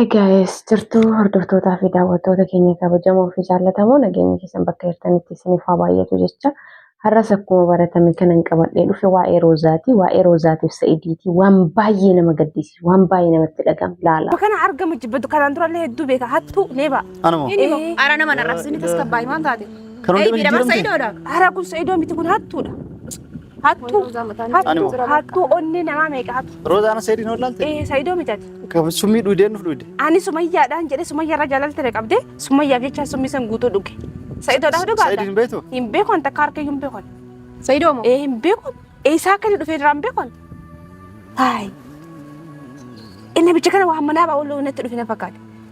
Egaayis jirtuu hordoftootaa fi daawwattoota keenya kabajamoo fi jaallatamoo nageenya keessan bakka jirtanitti isiniif haa baay'atu jecha har'as akkuma baratame kanan qabadhee dhufe waa'ee roozaati waa'ee roozaatiif sa'idiiti waan baay'ee nama gaddisiisu waan baay'ee namatti dhaga'amu laala. Kana argamu jibbatu kanaan durallee hedduu beeka hattuu nee ba'a. Anuma. Inni moo ara nama narrabsini tasgabbaa'ii waan taate. Kan hundi Eebii dabarsa jijjiiramte. idoodha. Hara kun sa'idoon miti kun hattuudha. Hattuu, hattuu, hattuu onnee namaa meeqa hatu? Roozaa ana seediin ol laalte? Ee, Saidoo mitati. Qaba summii dhuydeen nuuf dhuyde. Ani sumayyaadhaan jedhe sumayyaa irra jaalalti na qabde sumayyaaf jecha summii san guutuu dhuge. Sa'idoodhaaf dhugaadha. Sa'idiin hin beektu? Hin beeku an takka harka iyyuu hin beeku. Sa'idoo moo? Ee hin beeku. Eessaa akka inni dhufee irraa hin beeku. Haay. Inni bicha kana waan manaa ba'uu natti dhufe na fakkaate.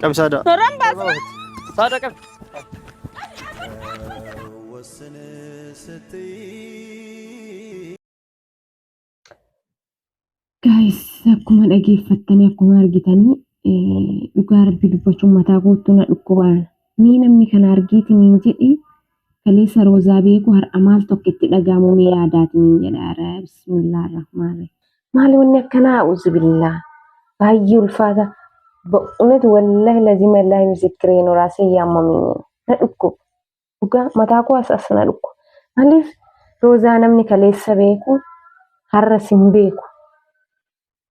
Qabi saada. Toraan baasna. Saada qabi. Guys, akkuma dhageeffattanii akkuma argitanii eh, dhugaa rabbi dubbachuun mataa guutuu na dhukkubaan. Mee namni kana argiiti niin jedhi Kaleessa roozaa beeku har'a maal tokko itti dhaga'amu mee yaadaatiniin jedha ara bismillah rahmaani. Maali wanni akkanaa a'uuzu billaa baay'ee ulfaata ba'unet wallahi lazima illaahi misikiree nu raasee yaamamini na dhukkuba dhugaa mataa koo as as na dhukkuba maaliif roozaa namni kaleessa beeku har'a sin beeku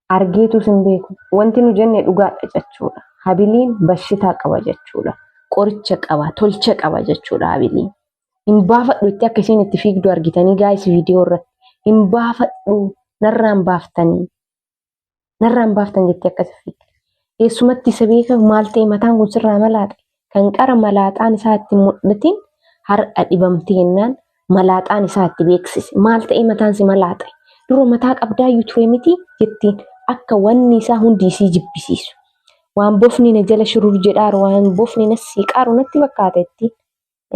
argeetus hin beeku. Wanti nu jenne dhugaadha jechuudha. Habiliin bashitaa qaba jechuudha. Qoricha qaba, tolcha qaba jechuudha habiliin. Hin baafadhu itti akka isiin itti fiigdu argitanii gaayis viidiyoo irratti. Hin baafadhu narraan baaftanii. Narraan baaftan jettee akkasi fiigdi. Eessumatti isa beeka maal ta'e mataan kun sirraa malaaxe. Kan qara malaaxaan isaa itti hin mul'atin har'a dhibamtee jennaan malaaxaan isaa itti beeksise. Maal ta'ee mataan si malaaxa'e? Dura mataa qabdaayyuu ture miti jettiin akka wanni isaa hundi isii jibbisiisu. Waan bofni na jala shurur jedhaaru waan bofni na siiqaaru natti fakkaata jettiin.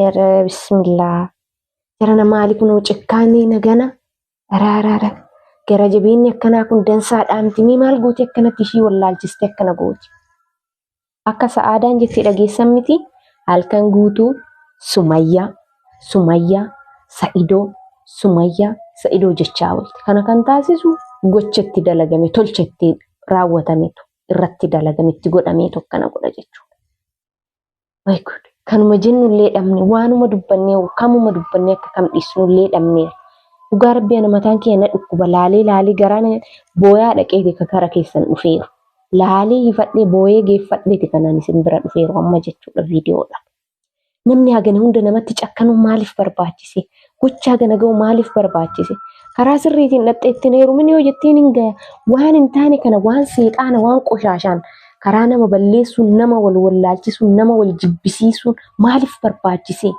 Ere bismillaa. Jarana maali kunoo cikkaanii nagana Ara ara ara. Gara jabeenyi akkanaa kun dansaa dhaamti mee maal gooti akkanatti ishii wallaalchiste akkana gooti. Akka sa'aadaan jettee dhageessan miti halkan guutuu sumayyaa sumayyaa sa'idoo sumayyaa sa'idoo jechaa oolte. Kana kan taasisu gocha itti dalagame tolcha itti raawwatametu irratti dalagame itti godhameetu akkana godha jechuudha. Way good. Kanuma jennullee dhabne waanuma dubbannee kamuma dubbannee akka kam dhiisnullee dhabneera. Dhugaa rabbii ana mataan kiyya na dhukkuba laalee laalee garaa na booyaa dhaqeeti ka gara keessan dhufeeru. Laalee hifadhee booyee geeffadheeti kanaan isin bira dhufeeru amma jechuudha viidiyoodha. Namni hagana hunda namatti cakkanuun maaliif barbaachise? Gochaa kana ga'u maaliif barbaachise? Karaa sirriitiin dhaqxee ittiin heerumin yoo jettiin hin gaya. Waan hin taane kana waan seexaana waan qoshaashaan karaa nama balleessuun nama wal wallaalchisuun nama wal jibbisiisuun maaliif barbaachise?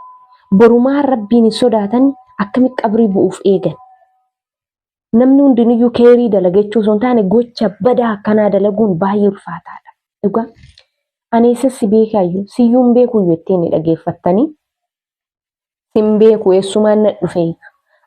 Borumaa rabbiin hin sodaatan akkamitti qabrii bu'uuf eegan? Namni hundiniyyuu keerii dalaga jechuu osoo hin taane gocha badaa akkanaa dalaguun baay'ee ulfaataadha. Dhugaa ani eessas si beekaayyuu siyyuun beekuyyuu ittiin ni dhageeffattanii Sin beeku eessumaan na dhufe.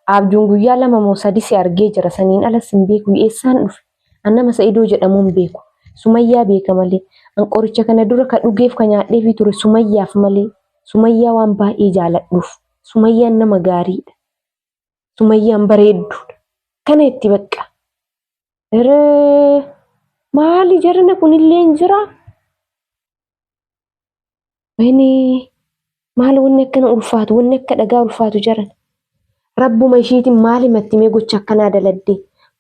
Abjuun guyyaa lama moo sadi si argee jira saniin ala sin beeku eessaan dhufe. An nama Sa'idoo jedhamuun beeku. Sumayyaa beeka malee. An qoricha kana dura ka dhugeef ka nyaadheefii ture Sumayyaaf malee. Sumayyaa waan baay'ee jaaladhuuf. Sumayyaan nama gaariidha. Sumayyaan bareedduudha. Kana itti baqqa. Iree maali jarana kunillee hin jiraa? Wayne maal wanni akkana ulfaatu wanni akka dhagaa ulfaatu jaran. Rabbuma ishiitiin maal himatti mee gocha akkanaa daladde.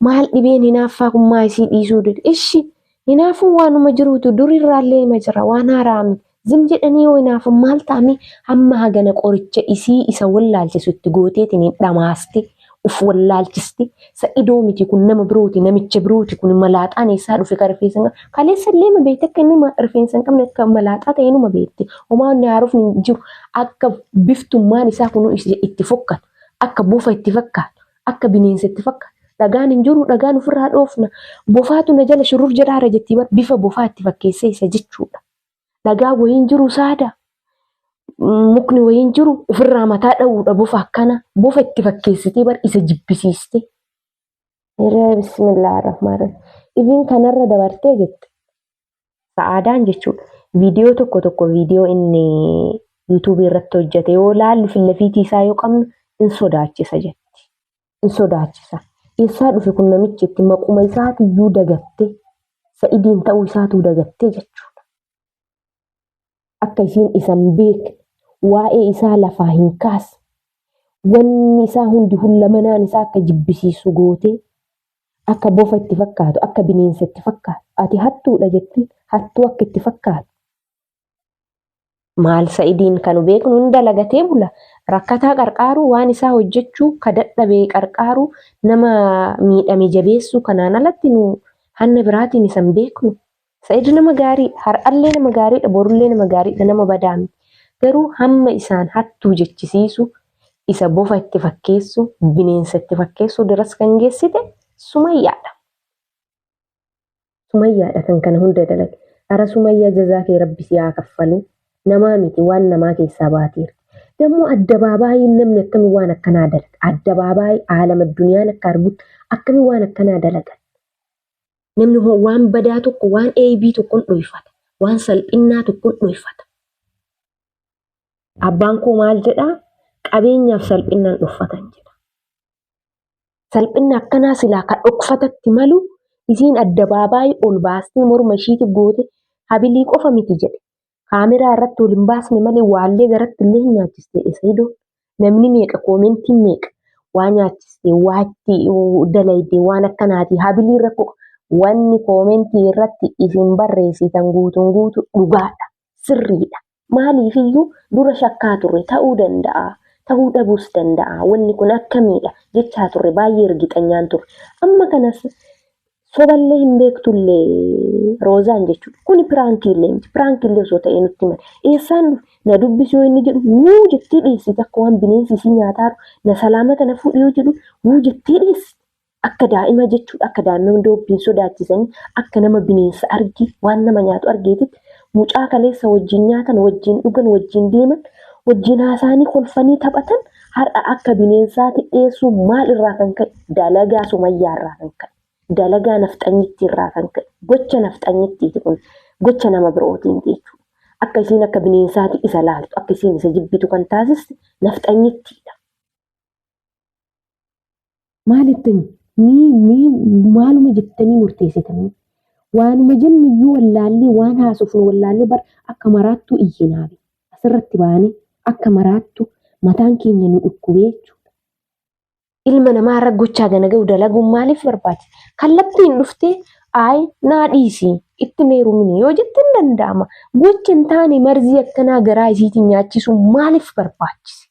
Maal dhibeen hinaaffaa kun maa isii dhiisuu dide. Ishi hinaafuu waanuma jiruutu durirraallee hima jira waan haaraa miti. Zim jedhanii yoo hinaafan maal ta'amee hamma hagana qoricha isii isa wallaalchisu itti gooteetiin hin dhamaaste. Uf wallaalchisti. Sa'idoo miti kun nama birooti namicha birooti kun malaaxaan eessaa dhufe kan rifeensa hin qabne. Kaleessa illee ma beekte akka inni ma- rifeensa hin qabne akka malaaxaa ta'e numa beekte. Homaa inni haarofni hin jiru. Akka biftummaan isaa kun is- itti fokkata. Akka bofa itti fakkaata. Akka bineensa itti fakkaata. Dhagaan hin jiru dhagaan ofirraa dhoofna. Bofaatu na jala shurrur jedhaara jettii bar bifa bofaa itti fakkeessee isa jechuudha. Nagaa wayiin jiru saada. Mukni wayiin jiru ofirraa mataa dha'uudha bofa akkana. Bofa itti fakkeessitee bar isa jibbisiiste. Hiree bismillah rahmaan rahim. Iviin kanarra dabartee jette. Sa'aadaan jechuudha. Viidiyoo tokko tokko viidiyoo inni yuutuubii irratti hojjete yoo laallu fillafiitii isaa yoo qabnu in sodaachisa jetti. hin sodaachisa. Eessaa dhufe kun namichi itti maquma isaatiyyuu dagatte sa'idiin ta'uu isaatuu dagatte jechuudha. Akka isiin isan beekne waa'ee isaa lafaa hin kaasne wanni isaa hundi hullamanaan isaa akka jibbisiisu gootee akka bofa itti fakkaatu akka bineensa itti fakkaatu ati hattuudha jettiin hattuu akka itti fakkaatu Maal sa'idiin kanu beeknu hin dalagatee bula. Rakkataa qarqaaruu waan isaa hojjechuu ka dadhabee qarqaaruu nama miidhame jabeessuu kanaan alatti nu hanna biraatiin isan beeknu. Sa'id nama gaarii har'allee nama gaariidha borullee nama gaariidha nama badaa miti. Garuu hamma isaan hattuu jechisiisu isa bofa itti fakkeessu bineensa itti fakkeessu diras kan geessite sumayyaadha. Sumayyaadha kan kana hunda dalage. Ara Sumayyaa jazaa kee rabbi si haa kaffalu. Namaa miti waan namaa keessaa baateera. Dammoo addabaabaayiin namni akkami waan akkanaa dalaga. Addabaabaayii aalama duniyaan akka argutti akkami waan akkanaa dalaga. Namni hoo waan badaa tokko waan eebii tokkon dhoyfata. Waan salphinnaa tokkon dhoyfata. Abbaan koo maal jedhaa? Qabeenyaaf salphinnaan dhoffatan jedha. Salphinni akkanaa silaa ka dhokfatatti malu isiin addabaabaayii ol baastee morma ishiiti goote habilii qofa miti jedhe. Kaameraa irratti ol hin baasne malee waallee garatti illee hin nyaachiste Esayidoon. Namni meeqa koomentiin meeqa waa nyaachiste waa itti dalayde waan akkanaati habilii rakkoo wanni koomentii irratti isin barreessitan guutuun guutu dhugaadha. sirriidha. Maaliifiyyuu dura shakkaa turre ta'uu danda'a, ta'uu dhabuus danda'a, wanni kun akkamiidha jechaa turre baay'ee irgixanyaan turre. Amma kanas soballee hin beektullee Roozaan jechuudha. Kuni piraankiillee miti. Piraankiillee osoo ta'ee nutti himan. Eessaan dhufe? Na dubbisi yoo inni jedhu wuu jettee dhiyeessiti akka waan bineensi isii nyaataa jiru. Na salaamata na fuudhi yoo jedhu wuu jettee dhiyeessiti. Akka daa'ima jechuudha akka daa'imman doobbiin sodaachisanii akka nama bineensa arge waan nama nyaatu argeetitti mucaa kaleessa wajjin nyaatan wajjin dhugan wajjin deeman wajjin haasaanii kolfanii taphatan har'a akka bineensaati dhiyeessuu maal irraa kan ka'e dalagaa sumayyaa irraa kan ka'e dalagaa nafxanyittii irraa kan ka'e gocha nafxanyittiiti kun gocha nama birootiin jechuudha. Akka isiin akka bineensaati isa laaltu akka isiin isa jibbitu kan taasiste nafxanyittiidha. maal ittiin mii mii maaluma jettanii murteessitanii waanuma jennu iyyuu wallaallee waan haasofnu wallaallee bar akka maraattuu iyyinaabe asirratti baane akka maraattu mataan keenya nu dhukkubee jechuudha. Ilma namaa irra gochaa gana ga'u dalaguun maaliif barbaachisa? Kallattiin dhuftee ayi naa dhiisi itti meerumini yoo jette hin danda'ama. Gocha hin taane marzii akkanaa garaa isiitiin nyaachisuun maaliif barbaachise?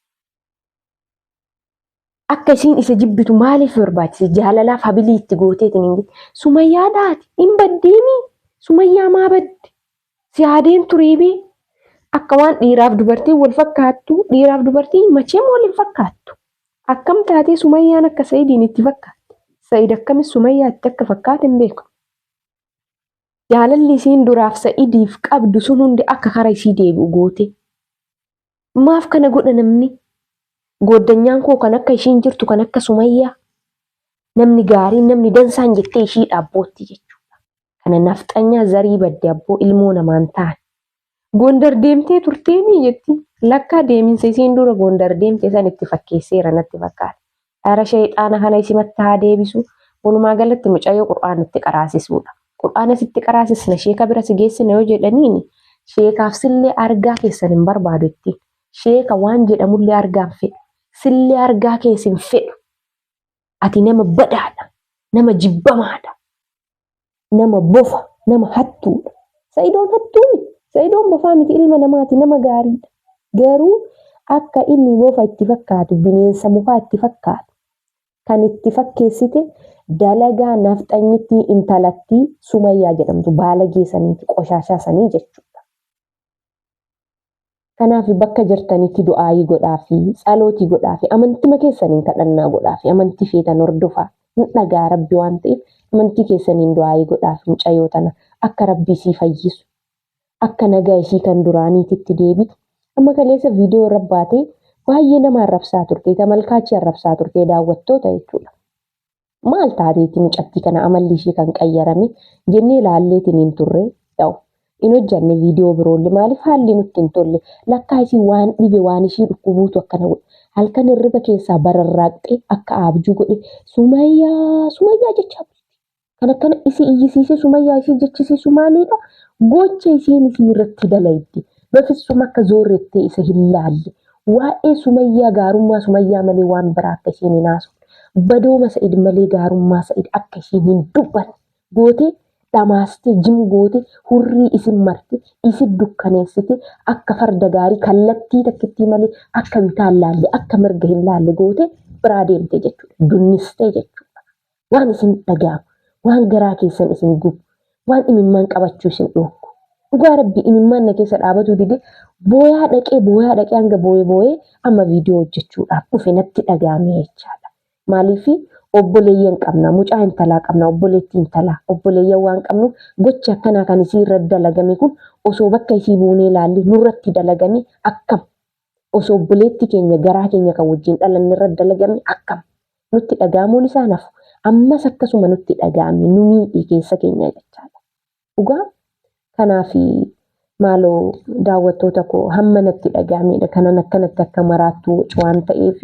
Akka isiin isa jibbitu maaliif barbaachise? Jaalalaaf habilii itti gooteetiin hin jette. Sumayyaa dhaati hin baddeemi. Sumayyaa maa badde? Si haadeen turiibii. Akka waan dhiiraaf dubartiin wal fakkaattu dhiiraaf dubartiin macheem wal hin fakkaattu. Akkam taatee Sumayyaan akka Sa'idiin itti fakkaatte. Sa'id akkamis Sumayyaa itti akka fakkaate hin beeku. Jaalalli isiin duraaf Sa'idiif qabdu sun hundi akka kara isii deebi'u goote. Maaf kana godha namni? Gooddanyaan koo kan akka ishiin jirtu kan akka sumayyaa namni gaariin namni dansaan jettee ishii dhaabbootti jechuudha. Kana nafxanyaa zarii badde abboo ilmoo namaan ta'an. Gondar deemtee turteemii jetti. Lakkaa deeminsa isiin dura Gondar deemte san itti fakkeesseera natti fakkaata. Dhara sheyxaana kana isimatti haa deebisu walumaa galatti mucayyoo qur'aana itti qaraasisuudha. Qur'aana sitti qaraasisna sheeka bira si geessina yoo jedhaniini sheekaaf sillee argaa keessan hin barbaadu ittiin. Sheeka waan jedhamullee argaa hin fedhu. Sillee argaa kees hin fedhu. Ati nama badaadha. Nama jibbamaadha. nama bofa nama hattuudha sa'idoon hattuumi sa'idoon bofaa miti ilma namaati nama gaariidha garuu akka inni bofa itti fakkaatu bineensa mukaa itti fakkaatu kan itti fakkeessite dalagaa nafxanyittii intalattii sumayyaa jedhamtu baalagee saniiti qoshaashaa sanii jechuudha. Kanaaf bakka jirtanitti du'aayii godhaafi, tsalootii godhaafi, amantima keessaniin kadhannaa godhaafi, amantii feetan hordofaa. Hin dhaga'a Rabbi waan ta'eef amantii keessaniin du'aayii godhaafi mucayoo tana akka Rabbi isii fayyisu. Akka nagaa isii kan duraaniititti deebitu. Amma kaleessa viidiyoo irra baatee baay'ee nama arrabsaa turte, tamalkaachi arrabsaa turte, daawwattoota jechuudha. maal taateeti mucattii kana amalli ishee kan qayyarame jennee ilaalleetiin hin turre ta'u. Hin hojjanne viidiyoo biroolle maaliif haalli nutti hin tolle lakkaa isin waan dhibe waan ishii dhukkubuutu akkana godhe halkan hirriba keessaa bararraaqxee akka aabjuu godhe sumayyaa sumayyaa jechaa bulti. Kan akkana isii iyyisiisee sumayyaa isii jechisiisu maaliidha gocha isiin isii irratti dalaydi. Bafissuma akka zoorrettee isa hin laalle Waa'ee sumayyaa gaarummaa sumayyaa malee waan biraa akka ishiin hin haasofne badooma sa'id malee gaarummaa sa'id akka ishiin hin dubbanne gootee dhamaastee jim goote hurrii isin marte isin dukkaneessite akka farda gaarii kallattii takkittii malee akka bitaa hin laalle akka mirga hin laalle goote biraa deemte jechuudha dunnistee jechuudha. waan isin dhaga'amu, waan garaa keessan isin gubu, waan imimmaan qabachuu isin dhoorku. Dhugaa rabbi imimmaan na keessa dhaabatuu dide booyaa dhaqee booyaa dhaqee hanga booyee booyee amma viidiyoo hojjechuudhaaf dhufe natti dhaga'ame jechaadha. Maaliif obboleeyyan qabna, mucaa intalaa qabna, obboleettii intalaa, obboleeyyan waan qabnuuf gochi akkanaa kan isii irra dalagame kun osoo bakka isii buunee ilaalle nurratti dalagame akkam osoo obboleetti keenya garaa keenya kan wajjin dhalanne irra dalagame akkam nutti dhaga'amuun isaa nafu ammas akkasuma nutti dhaga'ame nu miidhe keessa keenya jechaadha. Dhugaa kanaaf maaloo daawwattoota koo hamma natti dhaga'amedha kanan akkanatti akka maraattu wacu waan ta'eef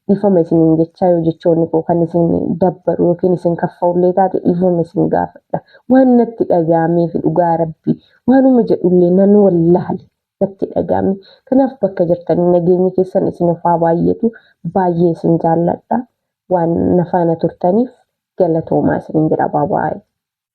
dhiifama isiniin jechaa yoo jechoonni koo kan isin dabbaru yookiin isin kaffa'ullee taate dhiifama isin gaafadha. Waan natti dhaga'ameef dhugaa rabbi waanuma jedhullee nan wallaale natti dhaga'ame. Kanaaf bakka jirtanii nageenyi keessan isiniif haa baay'atu. Baay'ee isin jaalladha. Waan na faana turtaniif galatoomaa isiniin jedha. Baabaayii.